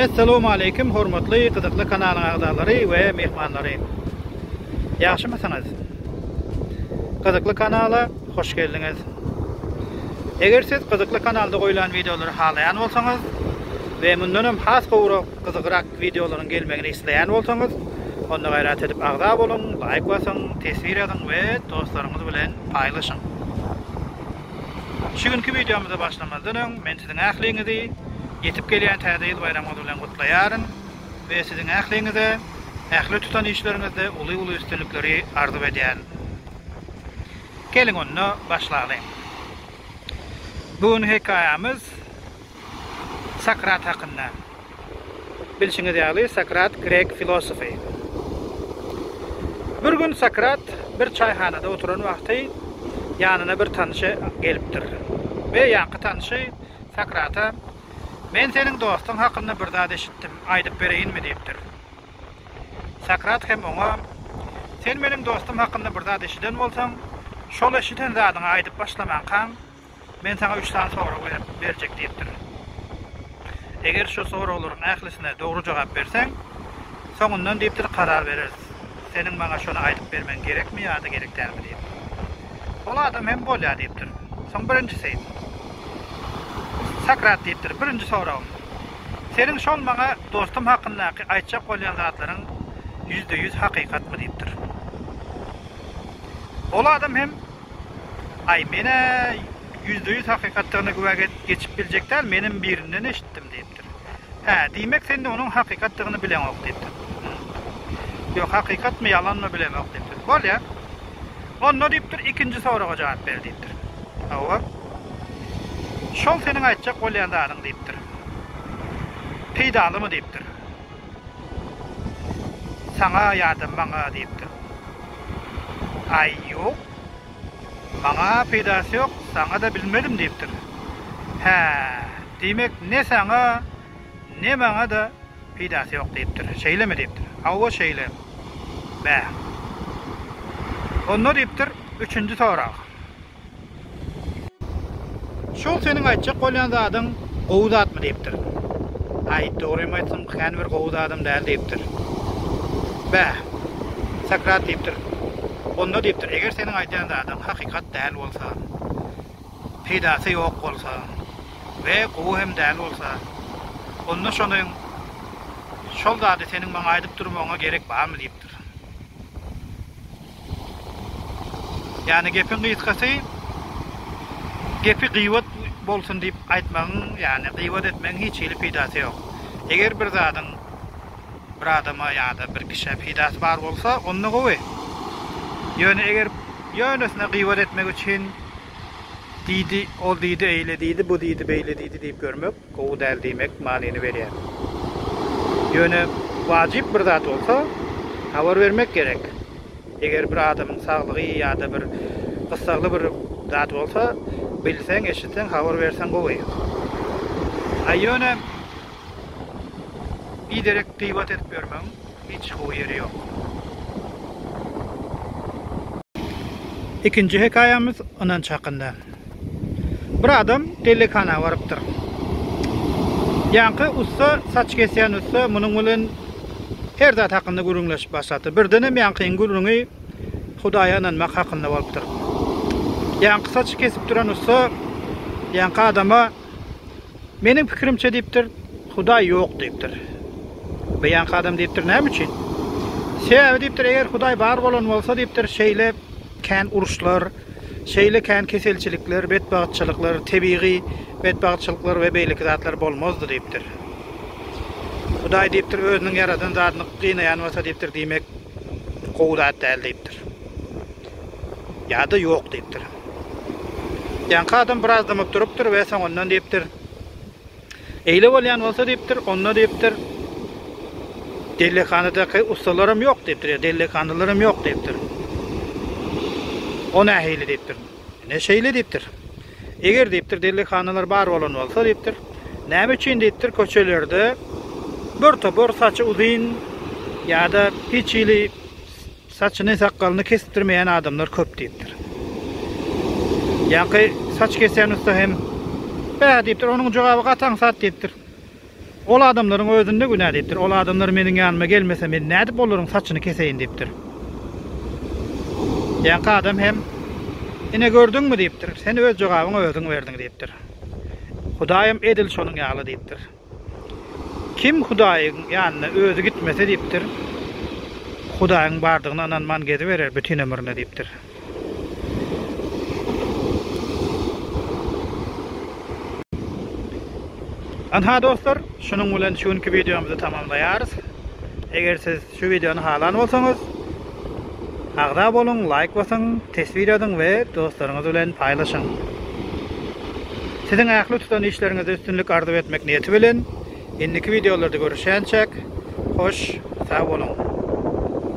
Assalamu aleykum hormatly gyzykly kanalyň agzalary we mehmanlary. Ýagşymysyňyz? Gyzykly kanala hoş geldiňiz. Eger siz gyzykly kanalda goýlan wideolary halaýan bolsaňyz we mundan hem has gowrak gyzykrak Wideolaryň gelmegini isleýän bolsaňyz, onda gaýrat edip agza boluň, laýk basyň, teswir ýazyň we dostlaryňyz bilen paýlaşyň. Şu günki wideomyza başlamazdan öň, men siziň ähliňizi ýetip gelýän Täze ýyl baýramyňyz bilen gutlaýaryn we siziň ähliňize ähli tutan işleriňizde uly-uly üstünlikleri arzuw edýärin. Geliň onda, başlalyň. Bu gün hekaýamyz. Sokrat hakynda. Bilşiňiz ýaly, Sokrat grek filosofy. Bir gün Sokrat bir çaýhanada oturan wagty ýanyna bir tanşy gelipdir we ýaňky tanşy Sokrata Men seniň dostuň hakynda bir zat eşitdim, aýdyp bereýinmi diýipdir. Sokrat hem oňa Sen meniň dostum hakynda bir zat eşiden bolsaň, şol eşiden zadyňy aýdyp başlamaňkaň, Men saňa üç sany sorag berip, berjek diýipdirin. Eger şu soraglaryň ählisine dogry jogap berseň, soňundan diýipdir, karar bereris. Seniň maňa şony aýdyp bermeň gerekmi ýa-da gerek dälmi diýip. Ol adam hem bolýa diýipdir. Soň birinjisi. Sokrat diýipdir, birinji soragym. Seniň şol maňa dostum hakyndaky aýtjak bolýan zatlaryň ýüzde ýüz hakykatmy diýipdir. Ol adam hem Aý, men-ä ýüzde-ýüz hakykatdygyna güwä geçip biljek däl, menem birinden eşitdim, diýipdir. Hä, diýmek, sen-de onuň hakykatdygyny bileňok, diýipdir. Hum. Ýok, hakykatmy, ýalanmy, bilemok, diýipdir. Bolýa. Onda, diýipdir, ikinji soraga jogap ber, diýipdir. Hawa. Şol seniň aýtjak bolýan zadyň, diýipdir. Peýdalymy, diýipdir. Saňa ýa-da maňa diýipdir. Aý, ýok. Maňa peýdasy ýok, saňa-da bilmedim diýipdir. Hä, diýmek, ne saňa, ne maňa-da peýdasy ýok diýipdir. Şeýlemi diýipdir. Hawa, şeýle. Bäh. Onda diýipdir, üçünji sorag. Şol seniň aýtjak bolýan zadyň gowy zatmy diýipdir. Aý, dogrymy aýtsam, kän bir gowy zadam däl diýipdir. Bä, Sokrat diýipdir, onda diýipdir, eger seniň aýdýan zadyň hakykat däl bolsa, peýdasy ýok bolsa we gowy hem däl bolsa, onda şonuň, şol zady seniň maňa aýdyp durmagyňa gerek barmy diýipdir. Ýagny gepiň gysgasy gepi gyýwat bolsun diýip aýtmagyň, ýagny gyýwat etmegiň hiç hili peýdasy ýok. Eger bir zadyň bir adama ýa-da bir kişä peýdasy bar bolsa, onda gowy. Ýöne eger ýönesine gyýwat etmek üçin diýdi, ol diýdi, eýle diýdi, bu diýdi, beýle diýdi diýip ýörmek, Gowy däl diýmek manyny berýär. Ýöne wajyp bir zat bolsa, habar bermek gerek. Eger bir adamyň saglygy ýa-da bir gyssagly bir zat bolsa, bilseň, eşitseň, habar berseň gowy. A ýöne biderek gybat edip ýörmegiň hiç gowy ýeri ýok. Ikinji hekaýamyz Ynanç hakynda. Bir adam dellekhana barypdyr. Ýaňky ussa, saç kesýän ussa munuň bilen her zat hakynda gürrüňleşip başlapdyr. Birdenem ýaňkynyň gürrüňi Hudaýa ynanmak hakynda bolupdyr. Ýaňky saçy kesip duran ussa ýaňky adama Meniň pikirimçe diýipdir, Hudaý ýok diýipdir. Bu ýaňky adam diýipdir, näme üçin? Sebäbi diýipdir, eger Hudaý bar bolan bolsa diýipdir, şeýle kän uruşlar, Şeýle kän keselçilikler, betbagtçylyklar, tebigy betbagtçylyklar we beýleki zatlar bolmazdy diýipdir. Hudaý diýipdir, özüniň ýaradan zadyny gynaýan bolsa diýipdir, diýmek gowy zat däl diýipdir. Ýa-da ýok diýipdir. Ýaňky adam biraz dymyp durupdyr we soňundan diýipdir, Eýle bolýan bolsa diýipdir, onda diýipdir, dellekhanadyky ussalaram ýok diýipdir, ýa dellekhanalarym ýok diýipdir. O nähili diýipdir. Ne şeýle diýipdir. Eger diýipdir dellekhanalar bar bolan bolsa diýipdir, näme üçin diýipdir köçelerde bir topar saçy uzyn ýa-da hiç hili Saçyny, sakgalyny kesipdirmeýän adamlar köp diýipdir. Ýaňky saç kesýän ussa hem Bä diýipdir, onuň jogaby gaty aňsat diýipdir. Ol adamlaryň özünde günä diýipdir. Ol adamlar meniň ýanyma gelmese, men nädip olaryň saçyny keseýin diýipdir. Ýaňky adam hem Ine gördüňmi diýipdir, sen öz jogabyňy özüň berdiň diýipdir. Hudaýam edil şonuň ýaly diýipdir. Kim Hudaýyň ýanyna özi gitmese diýipdir, Hudaýyň bardygyna ynanman geziberer bütin ömrüne diýipdir. Ynha dostlar, şunuň bilen şu günki wideomyzy tamamlaýarys. Eger siz Şu wideony halan bolsaňyz agza boluň, laýk basyň, teswir ýazyň we dostlaryňyz bilen paýlaşyň. Siziň ähli tutan işleriňizde üstünlik arzuw etmek niýeti bilen, indiki wideolarda görüşýänçäk, hoş, sag boluň!